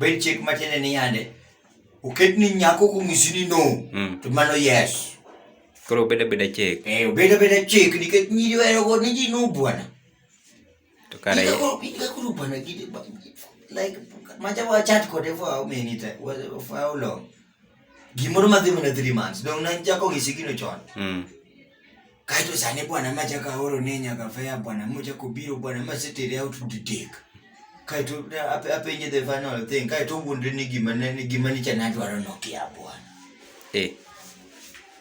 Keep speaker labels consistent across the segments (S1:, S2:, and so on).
S1: bed chik matiende ni yande oket ni nyako kong'isi ni no mm. to mano yes koro obed
S2: abeda chik eh, obed abeda chik
S1: nikech nyiri werogo ni ji no bwana to
S2: kare Ika koro ika koro bana
S1: gidi ba- like macha wa chat kode for how many time wa- for how long gimoro madhi mana 3 months dong nachako gi sigino chon mm. kaeto sani bwana machako aoro ne nyaka fea bwana mochako biro bwana masetere out to take kaeto ne ape- apenje the final thing kaeto owuondre ni gima ne- ni gima nicha nadwaro nokia bwana eh.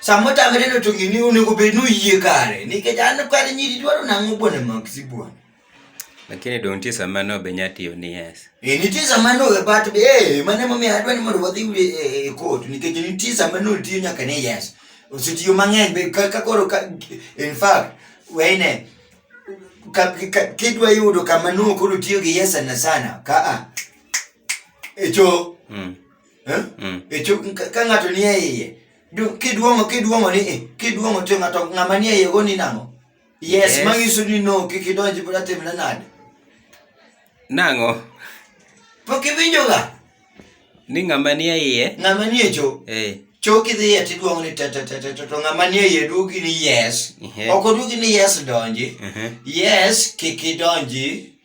S1: Sama tama neno to gini onego bed nuyie kare nikech an kare nyiri dwaro nang'o bwana Maxi bwana. Lakini
S2: dong' nitie sama no be nyatiyo ni yes. Eh, nitie sama no
S1: e bat be eh mane momiyo adwa ni mondo wadhi e eh, eh, court nikech nitie sama no tiyo nyaka ni yes. Osetiyo mang'eny be kaka koro in fact wene kidwa yudo kama no koro tiyo gi yes sana sana ka a. Echo. Mm. Eh? Mm. E chuk ka ng'ato nie iye. Kiduong'o kiduong'o ni eh, kiduong'o to ng'ato ng'ama nie iye go ni nang'o? Yes, yes. manyiso ni no kik idonji pod atimna nade.
S2: Nang'o?
S1: Pok iwinjoga. Ni ng'ama
S2: nie iye. Ng'ama nie cho.
S1: Eh. Choki dhi e tiduong'o ni te te te te to ng'ama nie iye duogi ni yes. Uh-huh. Ok oduogi ni yes donji. Uh-huh. Yes kik idonji.